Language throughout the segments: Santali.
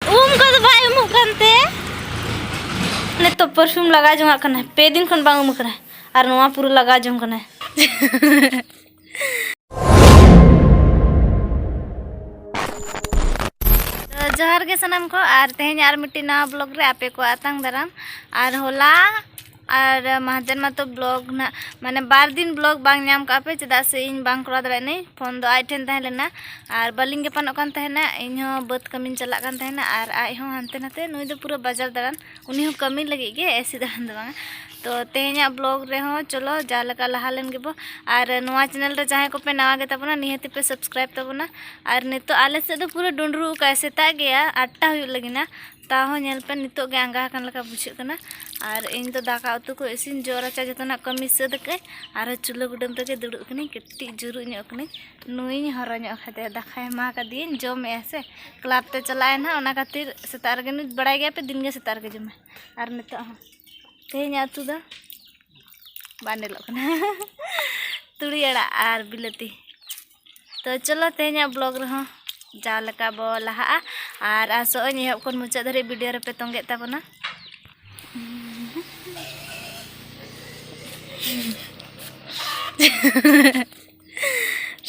ᱩᱢ ᱠᱚᱫᱚ ᱵᱟᱭ ᱩᱢᱩᱜ ᱠᱟᱱᱛᱮ ᱱᱤᱛᱚᱜ ᱯᱟᱨᱯᱷᱤᱭᱩᱢ ᱞᱟᱜᱟᱣ ᱡᱚᱝᱟᱜ ᱠᱟᱱᱟᱭ ᱯᱮ ᱫᱤᱱ ᱠᱷᱚᱱ ᱵᱟᱝ ᱩᱢ ᱠᱟᱱᱟᱭ ᱟᱨ ᱱᱚᱣᱟ ᱯᱩᱨᱟᱹ ᱞᱟᱜᱟᱣ ᱡᱚᱝ ᱠᱟᱱᱟᱭ ᱡᱚᱦᱟᱨ ᱜᱮ ᱥᱟᱱᱟᱢ ᱠᱚ ᱟᱨ ᱛᱮᱦᱮᱧ ᱟᱨ ᱢᱤᱫᱴᱤᱡ ᱱᱟᱣᱟ ᱵᱞᱚᱜ ᱨᱮ ᱟᱯᱮ ᱠᱚ ᱟᱛᱟᱝ ᱫᱟᱨᱟᱢ ᱟᱨ ᱦᱚᱞᱟ ᱟᱨ ᱢᱟᱦᱫᱮᱨ ᱢᱟᱛᱚ ᱵᱞᱚᱠ ᱱᱟᱜ ᱢᱟᱱᱮ ᱵᱟᱨ ᱫᱤᱱ ᱵᱞᱚᱠ ᱵᱟᱝ ᱧᱟᱢ ᱠᱟᱜ ᱯᱮ ᱪᱮᱫᱟᱜ ᱥᱮ ᱤᱧ ᱵᱟᱝ ᱠᱚᱨᱟᱣ ᱫᱟᱲᱮᱭᱟᱜ ᱱᱟᱹᱧ ᱯᱷᱳᱱ ᱫᱚ ᱟᱡ ᱴᱷᱮᱱ ᱛᱟᱦᱮᱸ ᱞᱮᱱᱟ ᱟᱨ ᱵᱟᱹᱞᱤᱧ ᱜᱟᱯᱟᱱᱚᱜ ᱠᱟᱱ ᱛᱟᱦᱮᱱᱟ ᱤᱧ ᱦᱚᱸ ᱵᱟᱹᱫᱽ ᱠᱟᱹᱢᱤᱧ ᱪᱟᱞᱟᱜ ᱠᱟᱱ ᱛᱟᱦᱮᱱᱟ ᱟᱨ ᱟᱡ ᱦᱚᱸ ᱦᱟᱱᱛᱮ ᱱᱟᱛᱮ ᱱᱩᱭ ᱫᱚ ᱯᱩᱨᱟᱹ ᱵᱟᱡᱟᱨ ᱫᱟᱬᱟᱱ ᱩᱱᱤ ᱦᱚᱸ ᱠᱟᱹᱢᱤ ᱞᱟᱹᱜᱤᱫ ᱜᱮ ᱮᱥᱮ ᱫᱟᱬᱟᱱ ᱫᱚ ᱵᱟᱝᱟ ᱛᱚ ᱛᱮᱦᱮᱧᱟᱜ ᱵᱞᱚᱜ ᱨᱮᱦᱚᱸ ᱪᱚᱞᱚ ᱡᱟ ᱞᱮᱠᱟ ᱞᱟᱦᱟ ᱞᱮᱱ ᱜᱮᱵᱚ ᱟᱨ ᱱᱚᱣᱟ ᱪᱮᱱᱮᱞ ᱨᱮ ᱡᱟᱦᱟᱸᱭ ᱠᱚᱯᱮ ᱱᱟᱣᱟ ᱜᱮ ᱛᱟᱵᱚᱱᱟ ᱱᱤᱦᱟᱹᱛ ᱯᱮ ᱥᱟᱵᱥᱠᱨᱟᱭᱤᱵ ᱛᱟᱵᱚᱱᱟ ᱟᱨ ᱱᱤᱛᱚᱜ ᱟᱞᱮ ᱥᱮᱫ ᱫᱚ ᱯᱩᱨᱟᱹ ᱰᱩᱸᱰᱨᱩ ᱟᱠᱟᱫ ᱥᱮᱛᱟᱜ ᱜᱮᱭᱟ ᱟᱴᱴᱟ ᱦᱩᱭᱩᱜ ᱞᱟᱹᱜᱤᱫ ᱱᱟ ᱛᱟᱣ ᱦᱚᱸ ᱧᱮᱞ ᱯᱮ ᱱᱤᱛᱚᱜ ᱜᱮ ᱟᱸᱜᱟ ᱟᱠᱟᱱ ᱞᱮᱠᱟ ᱵᱩᱡᱷᱟᱹᱜ ᱠᱟᱱᱟ ᱟᱨ ᱤᱧ ᱫᱚ ᱫᱟᱠᱟ ᱩᱛᱩ ᱠᱚ ᱤᱥᱤᱱ ᱡᱚᱜ ᱨᱟᱪᱟ ᱡᱚᱛᱚᱱᱟᱜ ᱠᱟᱹᱢᱤ ᱥᱟᱹᱛ ᱟᱠᱟᱫ ᱟᱨᱦᱚᱸ ᱪᱩᱞᱦᱟᱹ ᱠᱩᱰᱟᱹᱢ ᱨᱮᱜᱮ ᱫᱩᱲᱩᱵ ᱠᱟᱹᱱᱟᱹᱧ ᱠᱟᱹᱴᱤᱡ ᱡᱩᱨᱩᱜ ᱧᱚᱜ ᱠᱟᱹᱱᱟᱹᱧ ᱱᱩᱭᱤᱧ ᱦᱚᱨᱚ ᱧᱚᱜ ᱠᱟᱫᱮᱭᱟ ᱫᱟᱠᱟᱭ ᱮᱢᱟ ᱠᱟᱫᱮᱭᱟᱹᱧ ᱡᱚᱢᱮᱜᱼᱟ ᱥᱮ ᱠᱞᱟᱵᱽ ᱛᱮ ᱪᱟᱞᱟᱜᱼᱟᱭ ᱱᱟᱦᱟᱜ ᱚᱱᱟ ᱠᱷᱟᱹᱛᱤᱨ ᱥᱮᱛᱟᱜ ᱨᱮᱜᱮ ᱱᱩᱭ ᱵᱟᱲᱟᱭ ᱜᱮᱭᱟ ᱯᱮ ᱫᱤᱱᱜᱮ ᱥᱮᱛᱟᱜ ᱨᱮᱜᱮ ᱡᱚᱢᱟᱭ ᱟᱨ ᱱᱤᱛᱚᱜ ᱦᱚᱸ ᱛᱮᱦᱮᱧᱟᱜ ᱩᱛᱩ ᱫᱚ ᱵᱟᱱᱰᱮᱞᱚᱜ ᱠᱟᱱᱟ ᱛᱩᱲᱤ ᱟᱲᱟᱜ ᱟᱨ ᱵᱤᱞᱟᱹᱛᱤ ᱛᱚ ᱪᱚᱞᱚ ᱛᱮᱦᱮᱧᱟᱜ ᱵᱞᱚᱜ ᱨᱮᱦᱚᱸ ᱡᱟᱣ ᱞᱮᱠᱟ ᱵᱚ ᱞᱟᱦᱟᱜᱼᱟ ᱟᱨ ᱟᱥᱚᱜ ᱟᱹᱧ ᱮᱦᱚᱵ ᱠᱷᱚᱱ ᱢᱩᱪᱟᱹᱫ ᱫᱷᱟᱹᱨᱤᱡ ᱵᱷᱤᱰᱤᱭᱳ ᱨᱮᱯᱮ ᱛᱚᱸᱜᱮᱜ ᱛᱟᱵᱚᱱᱟ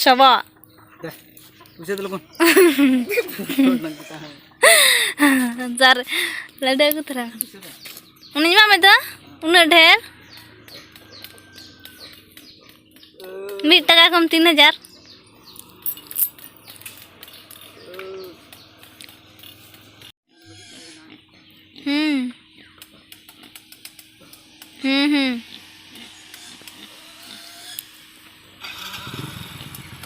ᱥᱚᱵᱚᱜ ᱢᱩᱪᱟᱹᱫ ᱞᱚᱜᱚᱱ ᱡᱟᱨ ᱞᱟᱹᱰᱩ ᱟᱹᱜᱩ ᱛᱚᱨᱟ ᱩᱱᱤᱧ ᱮᱢᱟᱜ ᱢᱮ ᱫᱚ ᱩᱱᱟᱹᱜ ᱰᱷᱮᱨ ᱢᱤᱫ ᱴᱟᱠᱟ ᱠᱷᱚᱱ ᱛᱤᱱ ᱦᱟᱡᱟᱨ ᱦᱩᱸ ᱦᱩᱸ ᱦᱩᱸ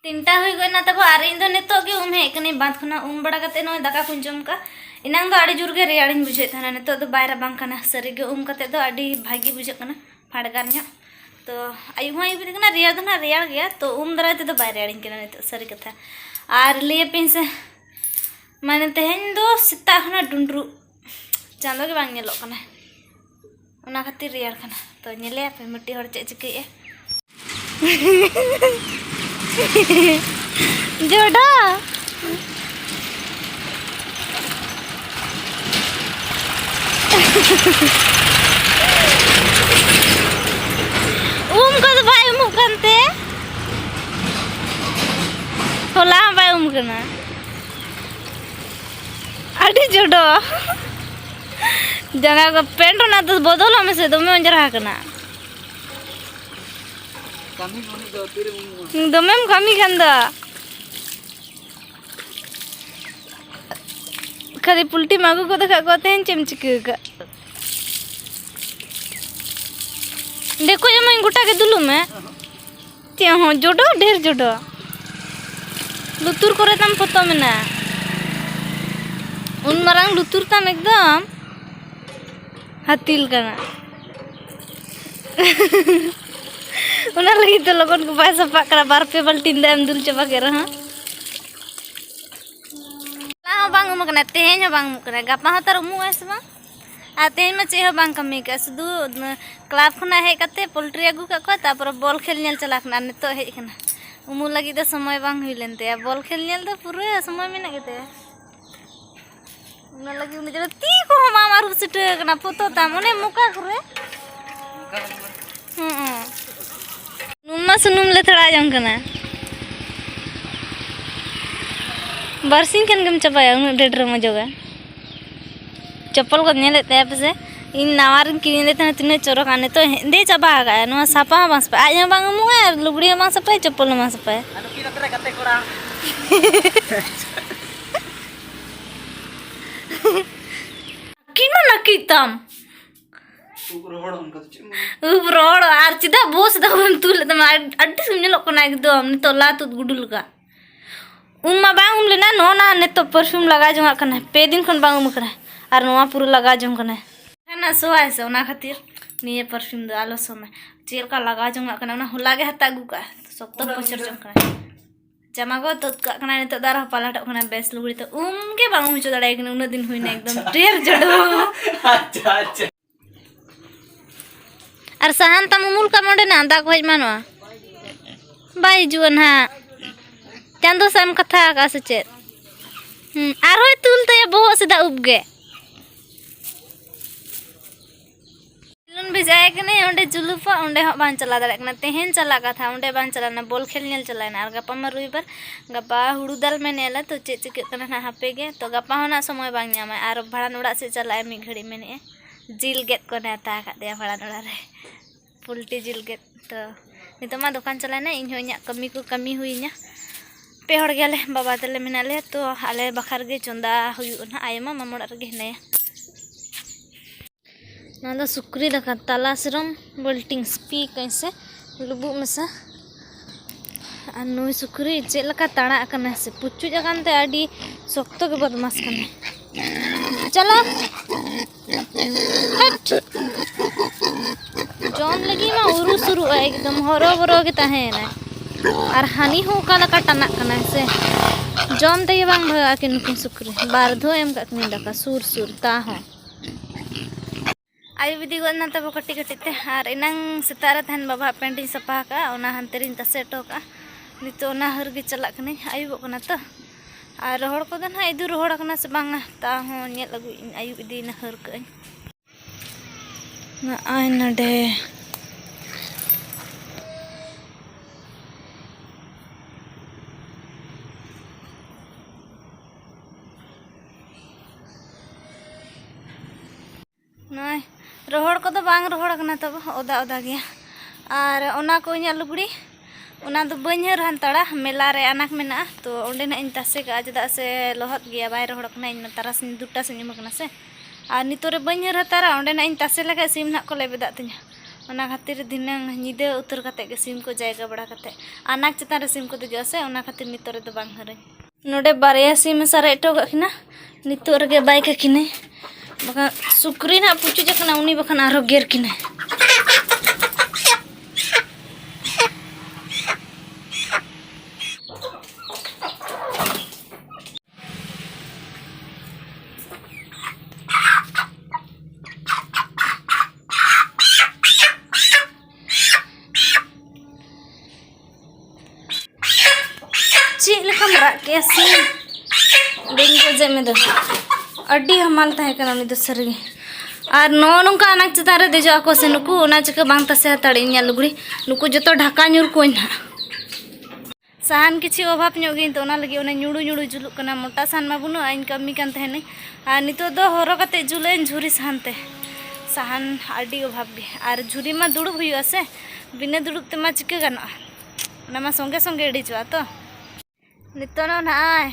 ᱛᱤᱱᱴᱟ ᱦᱩᱭ ᱜᱚᱭᱱᱟ ᱛᱟᱵᱚ ᱟᱨ ᱤᱧ ᱫᱚ ᱱᱤᱛᱚᱜ ᱜᱮ ᱩᱢ ᱦᱮᱡ ᱠᱟᱹᱱᱟᱹᱧ ᱵᱟᱸᱫ ᱠᱷᱚᱱᱟᱜ ᱩᱢ ᱵᱟᱲᱟ ᱠᱟᱛᱮ ᱱᱚᱜᱼᱚᱭ ᱫᱟᱠᱟ ᱠᱚᱧ ᱡᱚᱢ ᱠᱟᱜ ᱮᱱᱟᱝ ᱫᱚ ᱟᱹᱰᱤ ᱡᱳᱨ ᱜᱮ ᱨᱮᱭᱟᱲᱤᱧ ᱵᱩᱡᱷᱟᱹᱣᱮᱫ ᱛᱟᱦᱮᱱᱟ ᱱᱤᱛᱚᱜ ᱫᱚ ᱵᱟᱭ ᱨᱟᱵᱟᱝ ᱠᱟᱱᱟ ᱥᱟᱹᱨᱤ ᱜᱮ ᱩᱢ ᱠᱟᱛᱮ ᱫᱚ ᱟᱹᱰᱤ ᱵᱷᱟᱹᱜᱤ ᱵᱩᱡᱷᱟᱹᱜ ᱠᱟᱱᱟ ᱯᱷᱟᱰᱜᱟᱨ ᱧᱚᱜ ᱛᱚ ᱟᱭᱩᱵ ᱦᱚᱸ ᱟᱭᱩᱵ ᱤᱫᱤᱜ ᱠᱟᱱᱟ ᱨᱮᱭᱟᱲ ᱫᱚ ᱱᱟᱜ ᱨᱮᱭᱟᱲ ᱜᱮᱭᱟ ᱛᱚ ᱩᱢ ᱫᱟᱨᱟᱭ ᱛᱮᱫᱚ ᱵᱟᱭ ᱨᱮᱭᱟᱲᱤᱧ ᱠᱟᱱᱟ ᱱᱤᱛᱚᱜ ᱥᱟᱹᱨᱤ ᱠᱟᱛᱷᱟ ᱟᱨ ᱞᱟᱹᱭᱟᱯᱮᱧ ᱥᱮ ᱢᱟᱱᱮ ᱛᱮᱦᱮᱧ ᱫᱚ ᱥᱮᱛᱟᱜ ᱠᱷᱚᱱᱟᱜ ᱰᱩᱸᱰᱨᱩᱜ ᱪᱟᱸᱫᱚ ᱜᱮ ᱵᱟᱝ ᱧᱮᱞᱚᱜ ᱠᱟᱱᱟ ᱚᱱᱟ ᱠᱷᱟᱹᱛᱤᱨ ᱨᱮᱭᱟᱲ ᱠᱟᱱᱟ ᱛᱚ ᱧᱮᱞᱮᱭᱟ ᱯᱮ ᱢᱤᱫᱴᱤᱡ ᱦᱚᱲ ᱪᱮᱫ ᱪᱤᱠᱟᱹᱭᱮᱫᱼᱟ ᱡᱚᱰᱟ ᱩᱢ ᱠᱚᱫᱚ ᱵᱟᱭ ᱩᱢᱩᱜ ᱠᱟᱱᱛᱮ ᱦᱚᱞᱟ ᱦᱚᱸ ᱵᱟᱭ ᱩᱢ ᱠᱟᱱᱟ ᱟᱹᱰᱤ ᱡᱚᱰᱚ ᱡᱟᱸᱜᱟ ᱠᱚ ᱯᱮᱱᱴ ᱚᱱᱟ ᱫᱚ ᱵᱚᱫᱚᱞᱚᱜ ᱢᱮᱥᱮ ᱫᱚᱢᱮ ᱚᱸᱡᱽᱨᱟ ᱟᱠᱟᱱᱟ ᱫᱚᱢᱮᱢ ᱠᱟᱹᱢᱤ ᱠᱟᱱ ᱫᱚ ᱠᱷᱟᱹᱞᱤ ᱯᱩᱞᱴᱤᱢ ᱟᱹᱜᱩ ᱜᱚᱫ ᱟᱠᱟᱫ ᱠᱚᱣᱟ ᱛᱮᱦᱮᱧ ᱪᱮᱫ ᱮᱢ ᱪᱤᱠᱟᱹ ᱟᱠᱟᱫ ᱫᱮᱠᱚ ᱮᱢᱟᱹᱧ ᱜᱚᱴᱟ ᱜᱮ ᱫᱩᱞᱩᱜ ᱢᱮ ᱪᱮᱫ ᱦᱚᱸ ᱡᱚᱰᱚ ᱰᱷᱮᱨ ᱡᱚᱰᱚ ᱞᱩᱛᱩᱨ ᱠᱚᱨᱮ ᱛᱟᱢ ᱯᱷᱚᱛᱚ ᱢᱮᱱᱟᱜᱼᱟ ᱩᱱ ᱢᱟᱨᱟᱝ ᱞᱩᱛᱩᱨ ᱛᱟᱢ ᱮᱠᱫᱚᱢ ᱦᱟᱹᱛᱤᱞ ᱠᱟᱱᱟ ᱚᱱᱟ ᱞᱟᱹᱜᱤᱫ ᱛᱮ ᱞᱚᱜᱚᱱ ᱠᱚ ᱵᱟᱭ ᱥᱟᱯᱟᱜ ᱠᱟᱱᱟ ᱵᱟᱨ ᱯᱮ ᱵᱟᱞᱴᱤᱱ ᱫᱟᱜ ᱮᱢ ᱫᱩᱞ ᱪᱟᱵᱟ ᱠᱮᱫ ᱨᱮᱦᱚᱸ ᱦᱚᱸ ᱵᱟᱝ ᱩᱢᱩᱜ ᱠᱟᱱᱟ ᱛᱮᱦᱮᱧ ᱦᱚᱸ ᱵᱟᱝ ᱩᱢᱩᱜ ᱠᱟᱱᱟ ᱜᱟᱯᱟ ᱦᱚᱸ ᱛᱟᱨ ᱩᱢᱩᱜ ᱟᱭ ᱥᱮ ᱵᱟᱝ ᱟᱨ ᱛᱮᱦᱮᱧ ᱢᱟ ᱪᱮᱫ ᱦᱚᱸ ᱵᱟᱝ ᱠᱟᱹᱢᱤ ᱠᱟᱜᱼᱟ ᱥᱩᱫᱷᱩ ᱠᱞᱟᱵᱽ ᱠᱷᱚᱱᱟᱜ ᱦᱮᱡ ᱠᱟᱛᱮ ᱯᱳᱞᱴᱨᱤ ᱟᱹᱜᱩ ᱠᱟᱜ ᱠᱚᱣᱟ ᱛᱟᱨᱯᱚᱨᱮ ᱵᱚᱞ ᱠᱷᱮᱞ ᱧᱮᱞ ᱪᱟᱞᱟᱣ ᱠᱟᱱᱟ ᱟᱨ ᱱᱤᱛᱚᱜ ᱦᱮᱡ ᱠᱟᱱᱟ ᱩᱢᱩᱜ ᱞᱟᱹᱜᱤᱫ ᱫᱚ ᱥᱚᱢᱚᱭ ᱵᱟᱝ ᱦᱩᱭ ᱞᱮᱱ ᱛᱟᱭᱟ ᱵᱚᱞ ᱠᱷᱮᱞ ᱧᱮᱞ ᱫᱚ ᱯᱩᱨᱟᱹ ᱥᱚᱢᱚᱭ ᱢᱮᱱᱟᱜ ᱜᱮᱛᱟᱭᱟ ᱚᱱᱟ ᱞᱟᱹᱜᱤᱫ ᱩᱱᱤ ᱡᱮᱱᱚ ᱛᱤ ᱠᱚᱦᱚᱸ ᱵᱟᱢ ᱟᱹᱨᱩᱵ ᱥᱤᱴᱷᱟᱹ ᱠᱟᱱᱟ ᱯᱷᱚᱛᱚ ᱛᱟᱢ ᱚᱱᱮ ᱢᱚᱠᱟ ᱠᱚᱨᱮ ᱱᱩᱱᱢᱟ ᱥᱩᱱᱩᱢ ᱞᱮ ᱛᱷᱚᱲᱟ ᱡᱚᱝ ᱠᱟᱱᱟ ᱵᱟᱨᱥᱤᱧ ᱠᱷᱟᱱ ᱜᱮᱢ ᱪᱟᱵᱟᱭᱟ ᱩᱱᱟᱹᱜ ᱰᱷᱮᱨ ᱰᱷᱮᱨ ᱢᱚᱡᱚᱜᱟ ᱪᱚᱯᱚᱞ ᱠᱚ ᱧᱮᱞᱮᱫ ᱛᱟᱭᱟ ᱯᱟᱥᱮ ᱤᱧ ᱱᱟᱣᱟ ᱨᱤᱧ ᱠᱤᱨᱤᱧ ᱞᱮᱫ ᱛᱟᱦᱮᱱᱟ ᱛᱤᱱᱟᱹᱜ ᱪᱚᱨᱚᱠᱟ ᱱᱤᱛᱚᱜ ᱦᱮᱸᱫᱮ ᱪᱟᱵᱟ ᱟᱠᱟᱫᱼᱟ ᱱᱚᱣᱟ ᱥᱟᱯᱟ ᱦᱚᱸ ᱵᱟᱝ ᱥᱟᱯᱟᱭᱟ ᱟᱡ ᱦᱚᱸ ᱵᱟᱝ ᱩᱢᱩᱜᱼᱟ ᱟᱨ ᱞᱩᱜᱽᱲᱤ ᱦᱚᱸ ᱵᱟᱝ ᱥᱟᱯᱟᱭᱟ ᱪᱚᱯᱚᱞ ᱦᱚᱸ ᱵᱟᱝ ᱥᱟᱯᱟᱭᱟ ᱠᱤᱱ ᱱᱟᱹᱠᱤᱡ ᱛᱟᱢ ᱩᱵ ᱨᱚᱦᱚᱲᱚᱜ ᱚᱱᱠᱟ ᱫᱚ ᱪᱮᱫ ᱩᱵ ᱨᱚᱦᱚᱲᱚᱜ ᱟᱨ ᱪᱮᱫᱟᱜ ᱵᱚᱥ ᱫᱚ ᱵᱟᱢ ᱛᱩᱞ ᱞᱮᱫ ᱛᱟᱢᱟ ᱟᱹᱰᱤ ᱥᱩᱢ ᱧᱮᱞᱚᱜ ᱠᱟᱱᱟ ᱮᱠᱫᱚᱢ ᱱᱤᱛᱚᱜ ᱞᱟ ᱛᱩᱫ ᱜᱩᱰᱩ ᱞᱮᱠᱟ ᱩᱢ ᱢᱟ ᱵᱟᱝ ᱩᱢ ᱞᱮᱱᱟ ᱱᱚᱜᱼᱚ ᱱᱟ ᱱᱤᱛᱚᱜ ᱯᱟᱨᱯᱷᱤᱭᱩᱢ ᱞᱟᱜᱟᱣ ᱡᱚᱝᱟᱜ ᱠᱟᱱᱟ ᱯᱮ ᱫᱤᱱ ᱠᱷᱚᱱ ᱵᱟᱝ ᱩᱢ ᱠᱟᱱᱟ ᱟᱨ ᱱᱚᱣᱟ ᱯᱩᱨᱟᱹ ᱞᱟᱜᱟᱣ ᱡᱚᱝ ᱠᱟᱱᱟ ᱦᱟᱱᱟ ᱥᱚᱣᱟᱭ ᱥᱮ ᱚᱱᱟ ᱠᱷᱟᱹᱛᱤᱨ ᱱᱤᱭᱟᱹ ᱯᱟᱨᱯᱷᱤᱭᱩᱢ ᱫᱚ ᱟᱞᱚ ᱥᱚᱢᱟᱭ ᱪᱮᱫ ᱞᱮᱠᱟ ᱞᱟᱜᱟᱣ ᱡᱚᱝᱟᱜ ᱠᱟᱱᱟ ᱚᱱᱟ ᱦᱚᱞᱟ ᱜᱮ ᱦᱟᱛᱟᱣ ᱟᱹᱜᱩ ᱠᱟᱜᱼᱟ ᱥᱚᱠᱛᱚ ᱯᱚᱪᱚᱨ ᱡᱚᱝ ᱠᱟᱱᱟ ᱡᱟᱢᱟ ᱠᱚ ᱛᱩᱫ ᱠᱟᱜ ᱠᱟᱱᱟ ᱱᱤᱛᱚᱜ ᱫᱚ ᱟᱨᱦᱚᱸ ᱯᱟᱞᱟᱴᱚᱜ ᱠᱟᱱᱟ ᱵᱮᱥ ᱞᱩᱜᱽᱲᱤ ᱛᱚ ᱩᱢ ᱜᱮ ᱵᱟᱝ ᱩᱢ ᱦᱚᱪᱚ ᱫᱟᱲᱮᱭᱟᱭ ᱠᱟᱱᱟ ᱩᱱᱟᱹᱜ ᱫᱤᱱ ᱦᱩᱭᱱᱟ ᱮᱠᱫᱚᱢ ᱰᱷᱮᱨ ᱡᱚᱰᱚ ᱟᱪᱪᱷᱟ ᱟᱪᱪᱷᱟ ᱟᱨ ᱥᱟᱦᱟᱱ ᱛᱟᱢ ᱩᱢᱩᱞ ᱠᱟᱜ ᱚᱸᱰᱮᱱᱟᱜ ᱫᱟᱜ ᱠᱚ ᱦᱮᱡ ᱢᱟ ᱱᱚᱣᱟ ᱵᱟᱭ ᱦᱤᱡᱩᱜᱼᱟ ᱱᱟᱦᱟᱜ ᱪᱟᱸᱫᱚ ᱥᱟᱜ ᱮᱢ ᱠᱟᱛᱷᱟ ᱟᱠᱟᱫᱼᱟ ᱥᱮ ᱪᱮᱫ ᱟᱨᱦᱚᱸᱭ ᱛᱩᱞ ᱛᱟᱭᱟ ᱵᱚᱦᱚᱜ ᱥᱮᱫᱟᱜ ᱩᱵ ᱜᱮ ᱠᱷᱮᱞᱳᱱ ᱵᱷᱮᱡᱟᱭᱮ ᱠᱟᱹᱱᱟᱹᱧ ᱚᱸᱰᱮ ᱡᱩᱞᱩᱯᱟ ᱚᱸᱰᱮ ᱦᱚᱸ ᱵᱟᱝ ᱪᱟᱞᱟᱣ ᱫᱟᱲᱮᱭᱟᱜ ᱠᱟᱱᱟ ᱛᱮᱦᱮᱧ ᱪᱟᱞᱟᱜ ᱠᱟᱛᱷᱟ ᱚᱸᱰᱮ ᱵᱟᱝ ᱪᱟᱞᱟᱣ ᱞᱮᱱᱟ ᱵᱚᱞ ᱠᱷᱮᱞ ᱧᱮᱞ ᱪᱟᱞᱟᱣ ᱮᱱᱟ ᱟᱨ ᱜᱟᱯᱟ ᱢᱟ ᱨᱚᱵᱤᱵᱟᱨ ᱜᱟᱯᱟ ᱦᱩᱲᱩ ᱫᱟᱞ ᱢᱮᱱᱮᱫᱼᱟᱞᱮ ᱛᱚ ᱪᱮᱫ ᱪᱤᱠᱟᱹᱜ ᱠᱟᱱᱟ ᱱᱟᱦᱟᱜ ᱦᱟᱯᱮ ᱜᱮ ᱛᱚ ᱜᱟᱯᱟ ᱦᱚᱸ ᱱᱟᱦᱟᱜ ᱥᱚᱢᱚᱭ ᱵᱟᱝ ᱧᱟᱢᱟᱭ ᱟᱨ ᱵᱷᱟᱸᱰᱟᱱ ᱚᱲᱟᱜ ᱥᱮᱫ ᱪᱟᱞᱟᱜᱼᱟᱭ ᱢᱤᱫ ᱜᱷᱟᱹᱲᱤᱡ ᱢᱮᱱᱮᱫᱼᱟᱭ ᱡᱤᱞ ᱜᱮᱫ ᱠᱚ ᱱᱮᱶᱛᱟ ᱟᱠᱟᱫᱮᱭᱟ ᱵᱷᱟᱸᱰᱟᱱ ᱚᱲᱟᱜ ᱨᱮ ᱯᱳᱞᱴᱤ ᱡᱤᱞ ᱜᱮᱫ ᱛᱚ ᱱᱤᱛᱚᱜ ᱢᱟ ᱫᱚᱠᱟᱱ ᱪᱟᱞᱟᱣᱱᱟ ᱤᱧ ᱦᱚᱸ ᱤᱧᱟᱹᱜ ᱠᱟᱹᱢᱤ ᱠᱚ ᱠᱟᱹᱢᱤ ᱦᱩᱭᱤᱧᱟ ᱯᱮ ᱦᱚᱲ ᱜᱮᱭᱟᱞᱮ ᱵᱟᱵᱟ ᱛᱟᱞᱮ ᱢᱮᱱᱟᱜ ᱞᱮᱭᱟ ᱛᱚ ᱟᱞᱮ ᱵᱟᱠᱷᱨᱟ ᱨᱮᱜᱮ ᱪᱚᱸᱫᱟ ᱦᱩᱭᱩᱜᱼᱟ ᱱᱟᱦᱟᱜ ᱟᱭᱳ ᱢᱟ ᱢᱟᱢᱚ ᱚᱲᱟᱜ ᱨᱮᱜᱮ ᱦᱮᱱᱟᱭᱟ ᱱᱚᱣᱟ ᱫᱚ ᱥᱩᱠᱨᱤ ᱫᱟᱠᱟ ᱛᱟᱞᱟ ᱥᱤᱨᱚᱢ ᱵᱳᱞᱴᱤᱝ ᱥᱯᱤ ᱠᱟᱹᱧ ᱥᱮ ᱞᱩᱵᱩᱜ ᱢᱮᱥᱟ ᱟᱨ ᱱᱩᱭ ᱥᱩᱠᱨᱤ ᱪᱮᱫ ᱞᱮᱠᱟ ᱛᱟᱲᱟᱜ ᱟᱠᱟᱱᱟ ᱥᱮ ᱯᱩᱪᱩᱡ ᱟᱠᱟᱱ ᱛᱮ ᱟᱹᱰᱤ ᱥᱚᱠᱛᱚ ᱜᱮ ᱵᱚᱫᱢᱟᱥ ᱠᱟᱱᱟᱭ ᱪᱟᱞᱟᱜ ᱡᱚᱢ ᱞᱟᱹᱜᱤᱫ ᱢᱟ ᱩᱨᱩ ᱥᱩᱨᱩᱜᱼᱟ ᱮᱠᱫᱚᱢ ᱦᱚᱨᱚ ᱵᱚᱨᱚ ᱜᱮ ᱛᱟᱦᱮᱱᱟ ᱟᱨ ᱦᱟᱹᱱᱤ ᱦᱚᱸ ᱚᱠᱟ ᱞᱮᱠᱟ ᱴᱟᱱᱟᱜ ᱠᱟᱱᱟ ᱥᱮ ᱡᱚᱢ ᱛᱮᱜᱮ ᱵᱟᱝ ᱵᱷᱟᱜᱟᱜᱼᱟ ᱠᱤᱱ ᱱᱩᱠᱤᱱ ᱥᱩᱠᱨᱤ ᱵᱟᱨ ᱫᱷᱟᱣ ᱮᱢ ᱠᱟᱜ ᱠᱤᱱ ᱫᱟᱠᱟ ᱥᱩᱨ ᱥᱩᱨ ᱛᱟ ᱦᱚᱸ ᱟᱭᱩᱵ ᱤᱫᱤ ᱜᱚᱫ ᱮᱱᱟ ᱛᱟᱵᱚ ᱠᱟᱹᱴᱤᱡ ᱠᱟᱹᱴᱤᱡ ᱛᱮ ᱟᱨ ᱮᱱᱟᱝ ᱥᱮᱛᱟᱜ ᱨᱮ ᱛᱟᱦᱮᱱ ᱵᱟᱵᱟ ᱯᱮᱱᱴ ᱤᱧ ᱥᱟᱯᱷᱟ ᱟᱠᱟᱫᱼᱟ ᱚᱱᱟ ᱦᱟᱱᱛᱮ ᱨᱤᱧ ᱛᱟᱥᱮ ᱦᱚᱴᱚ ᱠᱟᱜᱼᱟ ᱱᱤᱛᱚᱜ ᱚᱱᱟ ᱦᱟᱹᱨ ᱜᱮ ᱪᱟᱞᱟᱜ ᱠᱟᱹᱱᱟᱹᱧ ᱟᱹᱭᱩᱵᱚᱜ ᱠᱟᱱᱟ ᱛᱚ ᱟᱨ ᱨᱚᱦᱚᱲ ᱠᱚᱫᱚ ᱱᱟᱦᱟᱜ ᱤᱫᱩ ᱨᱚᱦᱚᱲ ᱟᱠᱟᱱᱟ ᱥᱮ ᱵᱟᱝᱟ ᱛᱟ ᱦᱚᱸ ᱧᱮᱞ ᱟᱹᱜᱩᱭᱮᱫ ᱟᱹᱧ ᱟᱹᱭᱩᱵ ᱤᱫᱤᱭᱮᱱᱟ ᱦᱟᱹᱨ ᱠᱟᱜ ᱟᱹᱧ ᱱᱚᱜᱼᱚᱭ ᱱᱚᱰᱮ ᱱᱚᱜᱼᱚᱭ ᱨᱚᱦᱚᱲ ᱠᱚᱫᱚ ᱵᱟᱝ ᱨᱚᱦᱚᱲ ᱠᱟᱱᱟ ᱛᱚᱵᱮ ᱚᱫᱟ ᱚᱫᱟ ᱜᱮᱭᱟ ᱟᱨ ᱚᱱᱟ ᱠᱚ ᱤᱧᱟᱹᱜ ᱞᱩᱜᱽᱲᱤ ᱚᱱᱟ ᱫᱚ ᱵᱟᱹᱧ ᱦᱟᱹᱨ ᱦᱟᱱᱛᱟᱲᱟ ᱢᱮᱞᱟ ᱨᱮ ᱟᱱᱟᱠ ᱢᱮᱱᱟᱜᱼᱟ ᱛᱚ ᱚᱸᱰᱮ ᱱᱟᱜ ᱤᱧ ᱛᱟᱥᱮ ᱠᱟᱜᱼᱟ ᱪᱮᱫᱟᱜ ᱥᱮ ᱞᱚᱦᱚᱫ ᱜᱮᱭᱟ ᱵᱟᱭ ᱨᱚᱦᱚᱲ ᱠᱟᱱᱟ ᱤᱧ ᱢᱟ ᱛᱟᱨᱟᱥᱤᱧ ᱫᱩᱴᱟ ᱥᱮᱫ ᱧᱩᱢ ᱠᱟᱱᱟ ᱥᱮ ᱟᱨ ᱱᱤᱛᱚᱜ ᱨᱮ ᱵᱟᱹᱧ ᱦᱟᱹᱨ ᱦᱟᱛᱟᱲᱟ ᱚᱸᱰᱮ ᱱᱟᱜ ᱤᱧ ᱛᱟᱥᱮ ᱞᱮᱠᱷᱟᱡ ᱥᱤᱢ ᱱᱟᱜ ᱠᱚ ᱞᱮᱵᱮᱫᱟᱜ ᱛᱤᱧᱟᱹ ᱚᱱᱟ ᱠᱷᱟᱹᱛᱤᱨ ᱫᱷᱤᱱᱟᱹᱝ ᱧᱤᱫᱟᱹ ᱩᱛᱟᱹᱨ ᱠᱟᱛᱮ ᱜᱮ ᱥᱤᱢ ᱠᱚ ᱡᱟᱭᱜᱟ ᱵᱟᱲᱟ ᱠᱟᱛᱮ ᱟᱱᱟᱠ ᱪᱮᱛᱟᱱ ᱨᱮ ᱥᱤᱢ ᱠᱚ ᱫᱮᱡᱚᱜᱼᱟ ᱥᱮ ᱚᱱᱟ ᱠᱷᱟᱹᱛᱤᱨ ᱱᱤᱛᱚᱜ ᱨᱮᱫᱚ ᱵᱟᱝ ᱦᱟᱹᱨᱟᱹᱧ ᱱᱚᱰᱮ ᱵᱟᱨᱭᱟ ᱥᱤᱢᱮ ᱥᱟᱨᱮᱡ ᱦᱚᱴᱚ ᱠᱟᱜ ᱠᱤᱱᱟ ᱱᱤᱛᱚᱜ ᱨᱮᱜᱮ ᱵᱟᱭ ᱠᱟᱹᱠᱤᱱᱟᱭ ᱵᱟᱠᱷᱟᱱ ᱥᱩᱠᱨᱤ ᱱᱟᱜ ᱯᱩᱪᱩᱡ ᱟᱠᱟᱱᱟ ᱩᱱᱤ ᱵᱟᱠᱷᱟᱱ ᱟᱨᱦᱚᱸ ᱜᱮᱨ ᱠᱤᱱᱟᱭ ᱪᱮᱫ ᱞᱮᱠᱟᱢ ᱨᱟᱜ ᱠᱮᱜᱼᱟ ᱥᱤ ᱵᱟᱹᱧ ᱜᱚᱡᱮᱫ ᱢᱮ ᱫᱚ ᱟᱹᱰᱤ ᱦᱟᱢᱟᱞ ᱛᱟᱦᱮᱸ ᱠᱟᱱᱟ ᱩᱱᱤ ᱫᱚ ᱥᱟᱹᱨᱤᱜᱮ ᱟᱨ ᱱᱚᱜᱼᱚ ᱱᱚᱝᱠᱟ ᱟᱱᱟᱡᱽ ᱪᱮᱛᱟᱱ ᱨᱮ ᱫᱮᱡᱚᱜ ᱟᱠᱚ ᱥᱮ ᱱᱩᱠᱩ ᱚᱱᱟ ᱪᱤᱠᱟᱹ ᱵᱟᱝ ᱛᱟᱥᱮ ᱦᱟᱛᱟᱲᱮᱜ ᱤᱧᱟᱹᱜ ᱞᱩᱜᱽᱲᱤ ᱱᱩᱠᱩ ᱡᱚᱛᱚ ᱰᱷᱟᱠᱟ ᱧᱩᱨ ᱠᱚᱣᱟᱹᱧ ᱦᱟᱸᱜ ᱥᱟᱦᱟᱱ ᱠᱤᱪᱷᱩ ᱚᱵᱷᱟᱵᱽ ᱧᱚᱜ ᱜᱮ ᱛᱚ ᱚᱱᱟ ᱞᱟᱹᱜᱤᱫ ᱚᱱᱮ ᱧᱩᱲᱩ ᱧᱩᱲᱩ ᱡᱩᱞᱩᱜ ᱠᱟᱱᱟ ᱢᱚᱴᱟ ᱥᱟᱦᱟᱱ ᱢᱟ ᱵᱟᱹᱱᱩᱜᱼᱟ ᱤᱧ ᱠᱟᱹᱢᱤ ᱠᱟᱱ ᱛᱟᱦᱮᱱᱟᱹᱧ ᱟᱨ ᱱᱤᱛᱚᱜ ᱫᱚ ᱦᱚᱨᱚ ᱠᱟᱛᱮ ᱡᱩᱞᱟᱹᱧ ᱡᱷᱩᱨᱤ ᱥᱟᱦᱟᱱ ᱛᱮ ᱥᱟᱦᱟᱱ ᱟᱹᱰᱤ ᱚᱵᱷᱟᱵᱽ ᱜᱮ ᱟᱨ ᱡᱷᱩᱨᱤ ᱢᱟ ᱫᱩᱲᱩᱵ ᱦᱩᱭᱩᱜᱼᱟ ᱥᱮ ᱵᱤᱱᱟᱹ ᱫᱩᱲᱩᱵ ᱛᱮᱢᱟ ᱪᱤᱠᱟᱹ ᱜᱟᱱᱚᱜᱼᱟ ᱚᱱᱟ ᱢᱟ ᱥᱚᱸᱜᱮ ᱥᱚᱸᱜᱮ ᱤᱲᱤᱡᱚᱜᱼᱟ ᱛᱚ ᱱᱤᱛᱚᱜ ᱱᱚᱜᱼᱚᱭ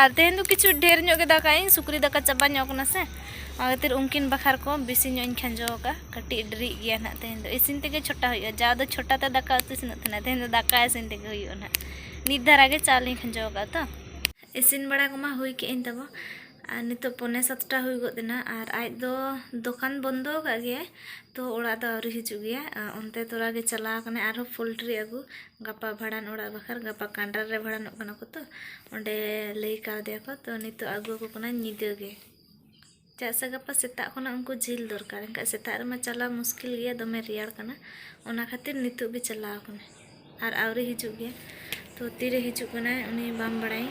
ᱟᱨ ᱛᱮᱦᱮᱧ ᱫᱚ ᱠᱤᱪᱷᱩ ᱰᱷᱮᱨ ᱧᱚᱜ ᱜᱮ ᱫᱟᱠᱟ ᱤᱧ ᱥᱩᱠᱨᱤ ᱫᱟᱠᱟ ᱪᱟᱵᱟ ᱧᱚᱜ ᱠᱟᱱᱟ ᱥᱮ ᱚᱱᱟ ᱠᱷᱟᱹᱛᱤᱨ ᱩᱱᱠᱤᱱ ᱵᱟᱠᱷᱟᱨ ᱠᱚ ᱵᱮᱥᱤ ᱧᱚᱜ ᱤᱧ ᱠᱷᱟᱸᱡᱚ ᱟᱠᱟᱫᱼᱟ ᱠᱟᱹᱴᱤᱡ ᱰᱮᱨᱤᱜ ᱜᱮᱭᱟ ᱱᱟᱦᱟᱜ ᱛᱮᱦᱮᱧ ᱫᱚ ᱤᱥᱤᱱ ᱛᱮᱜᱮ ᱪᱷᱚᱴᱟ ᱦᱩᱭᱩᱜᱼᱟ ᱡᱟᱣ ᱫᱚ ᱪᱷᱚᱴᱟ ᱛᱮ ᱫᱟᱠᱟ ᱩᱛᱩ ᱤᱥᱤᱱᱚᱜ ᱛᱟᱦᱮᱱᱟ ᱛᱮᱦᱮᱧ ᱫᱚ ᱫᱟᱠᱟ ᱤᱥᱤᱱ ᱛᱮᱜᱮ ᱦᱩᱭᱩᱜᱼᱟ ᱱᱟᱦᱟᱜ ᱱᱤᱛ ᱫᱷᱟᱨᱟ ᱜᱮ ᱪᱟᱣᱞᱮᱧ ᱠᱷᱟᱸᱡᱚ ᱟᱠᱟᱫᱼᱟ ᱛᱚ ᱤᱥᱤᱱ ᱵᱟᱲᱟ ᱠᱚᱢᱟ ᱦᱩᱭ ᱠᱮᱫ ᱟᱹᱧ ᱛᱟᱵᱚ ᱟᱨ ᱱᱤᱛᱚᱜ ᱯᱚᱱᱮ ᱥᱟᱛᱴᱟ ᱦᱩᱭ ᱜᱚᱫ ᱮᱱᱟ ᱟᱨ ᱟᱡ ᱫᱚ ᱫᱚᱠᱟᱱ ᱵᱚᱱᱫᱚ ᱟᱠᱟᱫ ᱜᱮᱭᱟᱭ ᱛᱚ ᱚᱲᱟᱜ ᱫᱚ ᱟᱹᱣᱨᱤ ᱦᱤᱡᱩᱜ ᱜᱮᱭᱟ ᱚᱱᱛᱮ ᱛᱚᱨᱟ ᱜᱮ ᱪᱟᱞᱟᱣ ᱟᱠᱟᱱᱟᱭ ᱟᱨᱦᱚᱸ ᱯᱳᱞᱴᱨᱤ ᱟᱹᱜᱩ ᱜᱟᱯᱟ ᱵᱷᱟᱸᱰᱟᱱ ᱚᱲᱟᱜ ᱵᱟᱠᱷᱨᱟ ᱜᱟᱯᱟ ᱠᱟᱱᱰᱟᱨ ᱨᱮ ᱵᱷᱟᱸᱰᱟᱱᱚᱜ ᱠᱟᱱᱟ ᱠᱚ ᱛᱚ ᱚᱸᱰᱮ ᱞᱟᱹᱭ ᱠᱟᱣᱫᱮᱭᱟᱠᱚ ᱛᱚ ᱱᱤᱛᱚᱜ ᱟᱹᱜᱩ ᱟᱠᱚ ᱠᱟᱱᱟᱭ ᱧᱤᱫᱟᱹ ᱜᱮ ᱪᱮᱫᱟᱜ ᱥᱮ ᱜᱟᱯᱟ ᱥᱮᱛᱟᱜ ᱠᱷᱚᱱᱟᱜ ᱩᱱᱠᱩ ᱡᱤᱞ ᱫᱚᱨᱠᱟᱨ ᱮᱱᱠᱷᱟᱱ ᱥᱮᱛᱟᱜ ᱨᱮᱢᱟ ᱪᱟᱞᱟᱣ ᱢᱩᱥᱠᱤᱞ ᱜᱮᱭᱟ ᱫᱚᱢᱮ ᱨᱮᱭᱟᱲ ᱠᱟᱱᱟ ᱚᱱᱟ ᱠᱷᱟᱹᱛᱤᱨ ᱱᱤᱛᱚᱜ ᱜᱮ ᱪᱟᱞᱟᱣ ᱠᱟᱱᱟᱭ ᱟᱨ ᱟᱹᱣᱨᱤ ᱦᱤᱡᱩᱜ ᱜᱮᱭᱟ ᱛᱚ ᱛᱤᱨᱮ ᱦᱤᱡᱩᱜ ᱠᱟᱱᱟᱭ ᱩᱱᱤ ᱵᱟᱢ ᱵᱟᱲᱟᱭᱟ